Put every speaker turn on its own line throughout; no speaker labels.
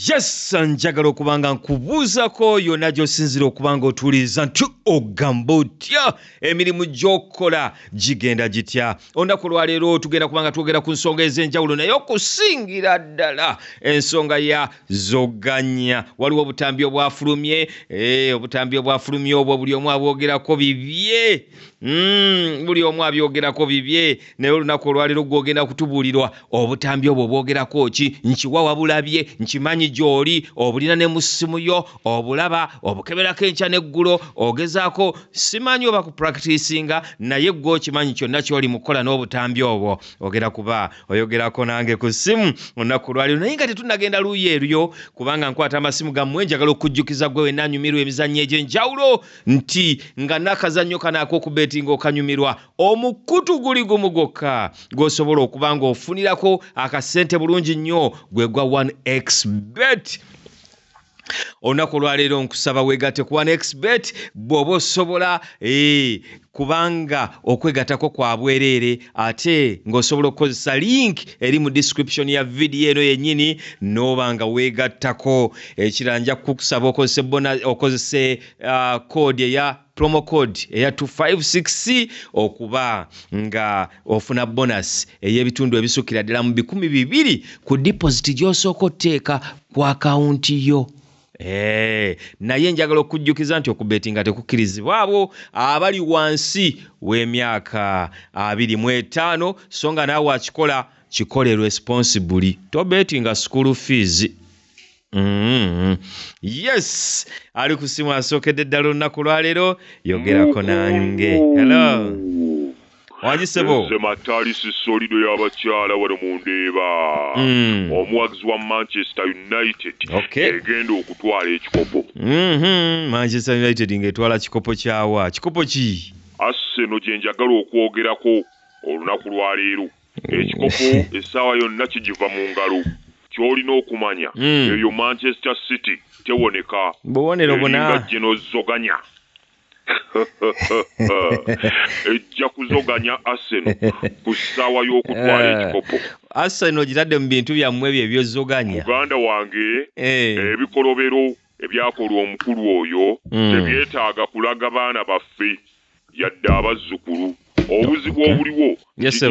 yes njagala okuba nga nkubuuzako yonna gy'osinzira okuba nga otuwuliriza nti ogamba otya emirimu gy'okola gigenda gitya olunaku olwaleero tugenda kuba nga twogera ku nsonga ez'enjawulo naye okusingira ddala ensonga ya zoganya waliwo obutambi obwafulumye eh, obutambi obwafulumye obwo buli omu abwogerako bibye Mm, buli omu abyogerako bibye naye olunaku olwaliro gwogenda kutubulirwa obutambi obwo bwogerako ki nkiwa wabulabye nkimanyi gyoli obulina ne musimu yo obulaba obukeberako enkya neggulo ogezaako simanyi oba ku practicinga naye gwe okimanyi kyonna kyoli mukukola n'obutambi obwo ogera kuba oyogerako nange ku simu olunaku olwaliro naye nga tetunagenda luuyi eryo kubanga nkwata amasimu gammwe njagala okujjukiza gwe wenna anyumirwa emizannyo egy'enjawulo nti nga n'akazannyo kano ak'okubeetinga okanyumirwa omukutu guli gumu gwokka gw'osobola okuba ng'ofunirako akasente bulungi nnyo gwe gwa 1x bet olunaku olwaleero nkusaba weegate ku 1xbet bw'oba osobola eh, kubanga okwegatako kwa bwereere ate ng'osobola okukozesa link eri mu description ya vidiyo eno yennyini n'oba nga weegattako ekira nja kukusaba okozese bona okozese uh, code eya promo code eya 256 okuba nga ofuna bonus ey'ebitundu ebisukira ddala mu bikumi bibiri ku deposit gy'osooka otteeka ku akawunti yo Hey, eh, naye njagala okujjukiza nti okubetinga tekukkirizibwa abo abali wansi w'emyaka abiri mu etaano so nga naawe akikola kikole responsibuli tobetinga school fees Mm-hmm. yes ali ku simu asookedde ddala olunaku lwaleero yogerako nange hello Wangi ssebo. Nze Matali
Sisolido y'abakyala wano mu Ndeeba. Mm. Omuwagizi wa Manchester United okay. egenda okutwala ekikopo. Mm -hmm. Manchester
United ng'etwala kikopo kyawa? Kikopo ki? Arsenal gye
njagala okwogerako olunaku lwa leero. Ekikopo essaawa yonna kigiva mu ngalo. Ky'olina okumanya mm. eyo Manchester City tewoneka. Bubonero buna.
Eringa Geno Zoganya.
ejja kuzoganya aseno ku ssaawa y'okutwala eh. ekikopo aseno ogitadde
mu bintu byammwe ebyo ebyozoganya muganda wange
eh. ebikolobero ebyakolwa omukulu oyo hmm. tebyetaaga kulaga baana baffe yadde abazzukulu obuzibu obuliwo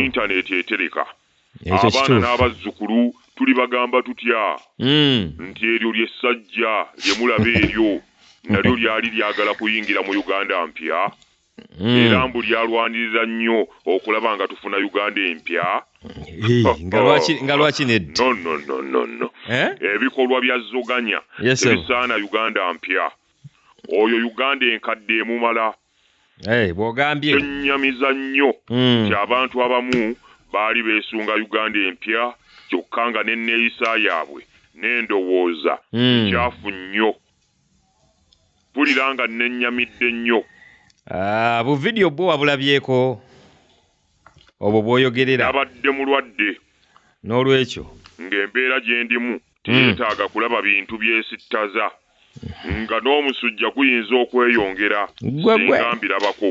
intaneti etereka abaana n'abazzukulu tulibagamba tutya hmm. nti eryo lye ssajja lye mulaba eryo nalyo lyali lyagala kuyingira mu uganda mpya hmm. era mbu lyalwanirira nnyo okulaba nga tufuna uganda empya
nga lwaki nednonononono
eh? ebikolwa bya zoganya tebisaana uganda mpya oyo uganda enkadde emumala Eh, bwogambye
kyennyamiza
nnyo hmm. nti abantu abamu baali beesunga uganda empya kyokka nga n'enneeyisa yaabwe n'endowooza hmm. nkyafu nnyo mpulira nga nnenyamidde nnyo ah, bu
vidiyo bwo wabulabyeko obwo bwoyogerera abadde mulwadde
n'olwekyo
ng'embeera
gye ndimu teyeetaaga kulaba bintu byesittaza nga n'omusujja guyinza okweyongera ssinga mbirabako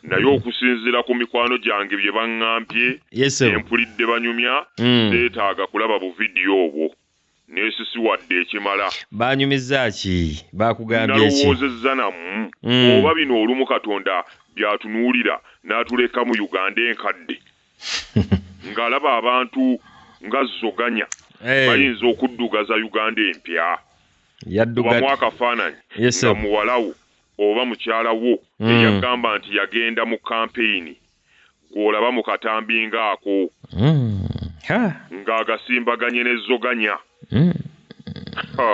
naye okusinziira ku mikwano gyange bye baŋŋambye ne mpulidde banyumya hmm. seetaaga kulaba buvidiyo obwo neesisiwadde ekimala. Baanyumizza ki?
Baakugambye ki? Nalowoozezza namu
hmm. oba bino olumu Katonda by'atunuulira n'atuleka mu Uganda enkadde. ng'alaba abantu nga Zoganya bayinza okuddugaza Uganda empya. Kubamu akafaananyi nga muwala wo oba mukyala wo eyagamba nti yagenda mu kampeyini gw'olaba mu katambi ng'ako ng'agasimbaganye ne Zoganya.
Ha!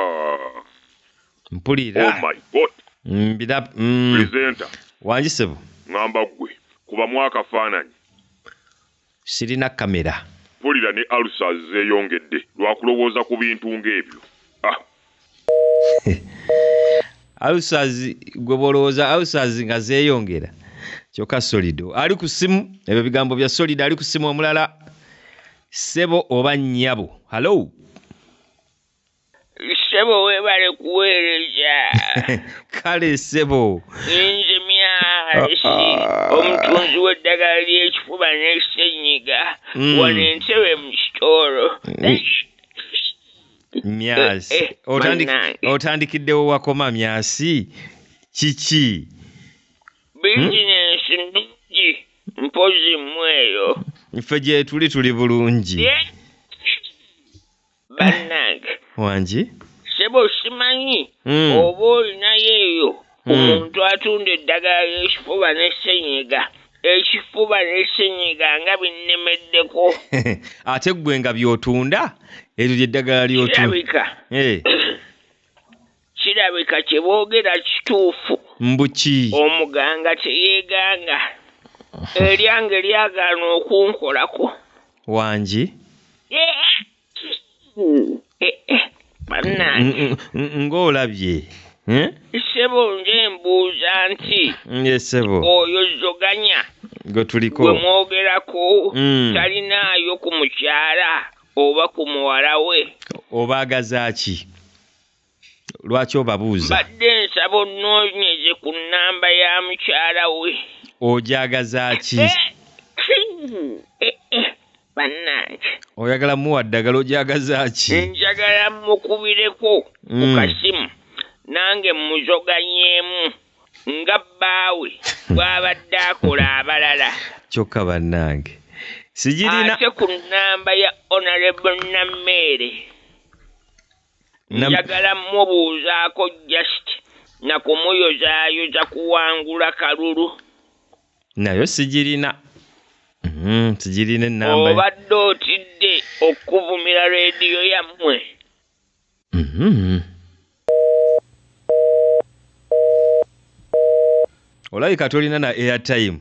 mpulira oh my god
mbira mm. presenter wangi sebo
ngamba gwe
kuba mwaka fananyi
sirina kamera mpulira ne alusa
zeyongedde lwakulowooza ku bintu ng'ebyo ah.
alusazi gwe bolowooza alusazi nga zeyongera kyokka solido ali ku simu ebyo bigambo bya solido ali ku simu omulala sebo oba nyabo hallo
Ssebo webale kuweereza. Kale
ssebo. Ninze
Myahasi ah, ah. omutunzi w'eddagala ly'ekifuba ne ssennyiga hmm. wano Entebbe mu kitoolo. Myasi
eh, eh, otandikiddewo wakoma Myasi kiki? Bizinensi
hmm? nnungi mpozi mmweyo. Ffe gyetuli
tuli bulungi.
bannange wangi
sebo
simanyi hmm. oba olinayo eyo hmm. omuntu atunda eddagala ly'ekifuba ne senyiga ekifuba n'esenyiga nga binnemeddeko ate
ggwe nga by'otunda eryo lyeddagala ly'otulabika eh.
Kirabika kye boogera kituufu. Mbu ki?
Omuganga
teyeganga. Eryange lyagaana okunkolako. Wangi? Bannange! Ng'olabye,
eh?
Ssebo nze mbuuza nti. Yee ssebo. Oyo
Zoganya.
Gwe tuliko. Gwe
mwogerako.
Mm. Talinaayo ku mukyala oba ku muwala we. Obaagaza
ki? lwaki obabuuza mbadde nsaba
ononyeze ku namba ya mukyala we ojagazaki
eh, eh, eh,
banange oyagala
muwa ddagala ojagazaki njagala
mukubireko mm. ku kasimu nange muzoganyemu nga bbaawe bwabadde akola abalala kyokka
bannange sigirina ate ku namba
ya honorable nameere njagala mubuuzaako just nakumuyozaayoza kuwangula kalulu
nayo sigirina mm, sigirina enamba obadde otidde
okuvumira rediyo yammwe mm -hmm.
olabika tolina na airtime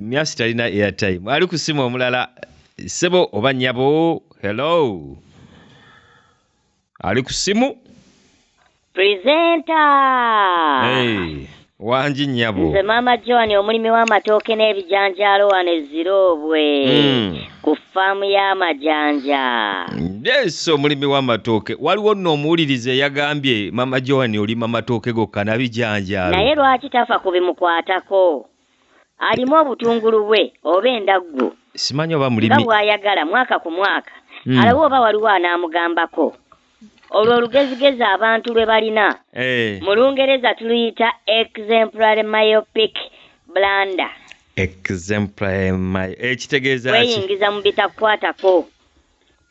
myasi talina airtime ali ku simu omulala sebo oba nyabo hello ali ku simu presenta
hey. wangi
nyabo nze maama joan
omulimi w'amatooke n'ebijanjaalo wano ezziroobwe mm. ku faamu y'amajanja. Yes,
omulimi w'amatooke waliwo nno omuwuliriza eyagambye mama Joan olima matooke gokka na bijanjaalo. Naye lwaki tafa ku
bimukwatako? Alimu obutungulu bwe oba endaggu Simanyi oba mulimi. nga
bw'ayagala mwaka
ku mwaka. Hmm. Alabe oba waliwo anaamugambako. Olwo olugezigezi abantu lwe balina mu Lungereza tuluyita exemplary myopic blunder. Exemplary
my ekitegeeza ki? Kweyingiza mu bitakukwatako.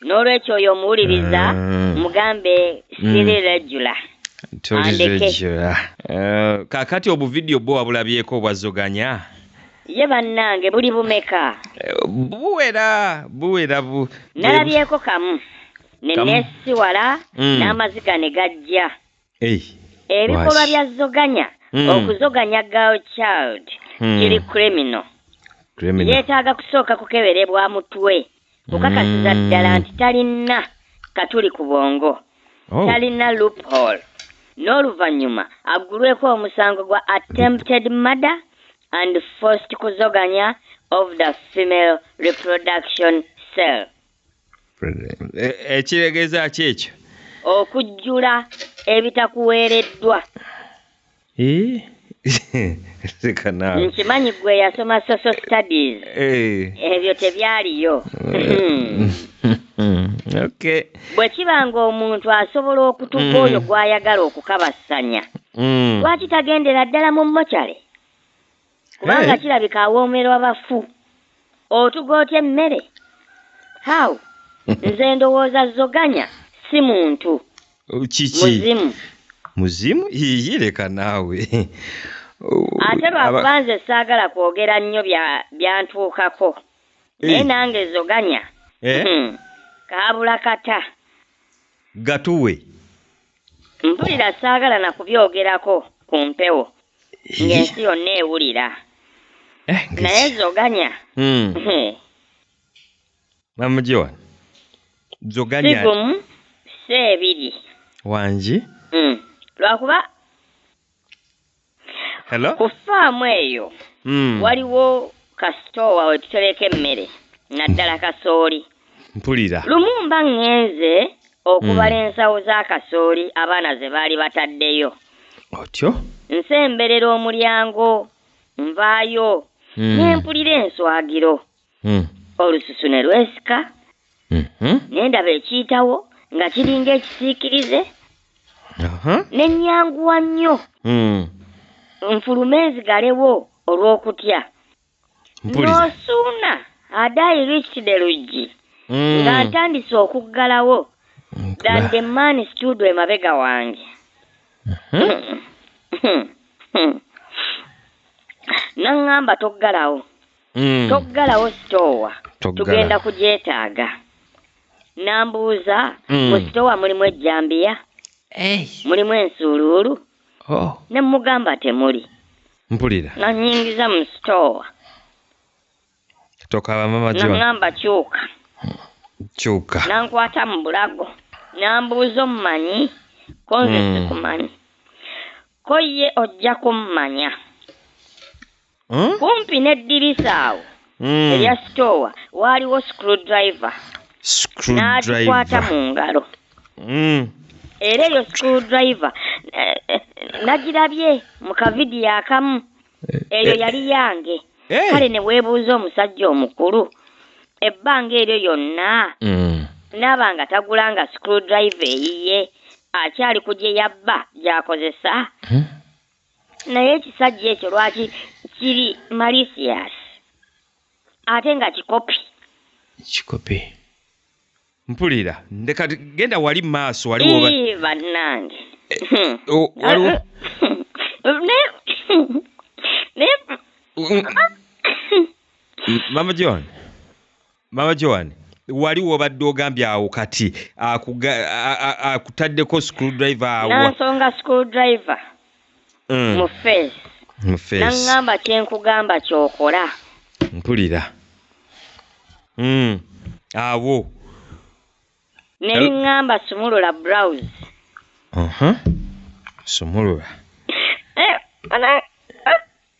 N'olwekyo oyo omuwuliriza mm. mugambe siri mm. regular. Tuli regular. Uh,
kakati obuvidiyo bwo wabulabyeko obwazoganya? ye
bannange buli bumeka buwera
buwera bu
nalabyeko kamu ne Kamu. neesiwala Mm. n'amaziga ne gajja Ei, ebikolwa Lwaki? bya zoganya Mm. okuzoganya girl child Hmm. kiri criminal criminal. yeetaaga kusooka kukeberebwa mutwe kukakasiza Mm. ddala nti talina katuli ku bwongo Oh, talina loophole n'oluvannyuma aggulweko omusango gwa attempted murder and forced kuzoganya of the female reproduction cell
ekiregeeza ki ekyo okujjula
ebitakuweereddwa nkimanyi gwe yasoma social studies ebyo tebyaliyo bwe kiba ng'omuntu asobola okutuka mm. oyo gw'ayagala okukabassanya mm. lwaki tagendera ddala mu mocale kubanga eh. kirabika awoomerwa bafu otuga otya emmere how nze ndowooza zoganya si muntu kiki
muzimu muzimu yiyi leka naawe
ate lwakuba nze saagala kwogera nnyo byantuukako eh. naye nange zoganya eh? hmm. kaabula kata
gatuwe
Mpulira saagala na kubyogerako ku mpewo ng'ensi yonna ewulira. Eh, ng'ensi- Naye zoganya Mm. hmm,
Mamugiwa. si Zoganya gumu
si ebiri. wangi.
Hmm.
Lwakuba
Hello? ku faamu eyo
Mm. waliwo kasitoowa we tutereka emmere naddala kasooli Mpulira.
lumu mba ŋŋenze
okubala ensawo za kasooli abaana ze baali bataddeyo Otyo?
nsemberera
omulyango nvaayo Mm. ne mpulira enswagiro Hmm. olususu ne lwesika Mhm. ne ndaba ekiyitawo nga kiringa ekisiikirize Aha. ne nnyanguwa nnyo Hmm. nfulume nzigalewo olw'okutya Mpulira. n'osuuna adaayi reached the luggi Hmm. nga ntandise okuggalawo Nkuba. than the man stood emabega wange naŋŋamba toggalawo Mm. Toggalawo sitoowa tugenda kugyetaaga. Nambuuza mm. mu sitoowa mulimu ejjambiya hey. mulimu ensuuluulu oh. ne mugamba temuli mpulira nga
nyingiza mu
sitoowa
tokaba mama jo nangamba kyuka kyuka nankwata mu
bulago nambuuza omumanyi konze mm. sikumanyi ko ye ojja kummanya Hmm? kumpi n'eddirisa awo Hmm. erya sitoowa waaliwo screwdriver n'agikwata Screwdriver. mu ngalo Hmm. era eyo screwdriver eh, eh, nagirabye mu kavidiyo akamu eyo yali yange Eh. kale ne weebuuza omusajja omukulu ebbanga eryo yonna Hmm. n'aba nga tagula nga screwdriver eyiye akyali ku gye yabba gy'akozesa Hmm. naye ekisajja ekyo lwaki kiri malicious ate nga kikopi kikopi
mpulira ndeka genda wali maaso wali woba bannange
waliwo
mama john mama joan wali wobadde ogambye awo kati akutaddeko school driver awo nansonga school
driver mm. mu face mu face nangamba kyenkugamba kyokola mpulira
mm. awo
nengamba sumulula browse uh -huh.
sumulula eh,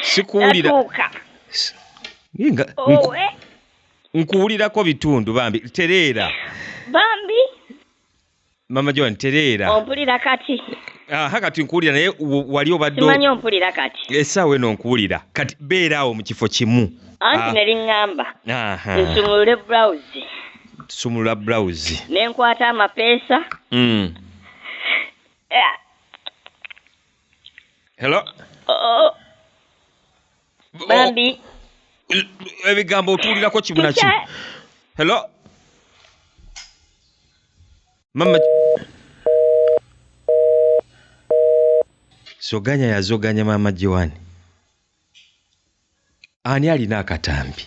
sikuwulira oh, eh. nkuwulirako bitundu bambi tereera bambi mama joan tereera ompulira kati
aha kati nkuwulira
naye wali obaddemanyi ompulira kati
esaawa eno nkuwulira
kati beeraawo mu kifo kimu anti ah. neri ŋŋamba
nsumulule bulawuzi sumulula
bulawuzi ne nkwata
amapeesa mm. eh,
hello Oh, Oh,
bambi
ebigambo otuulirako kibuna ki Teacher, hello mama soganya yazoganya mama jiwani ani alina akatambi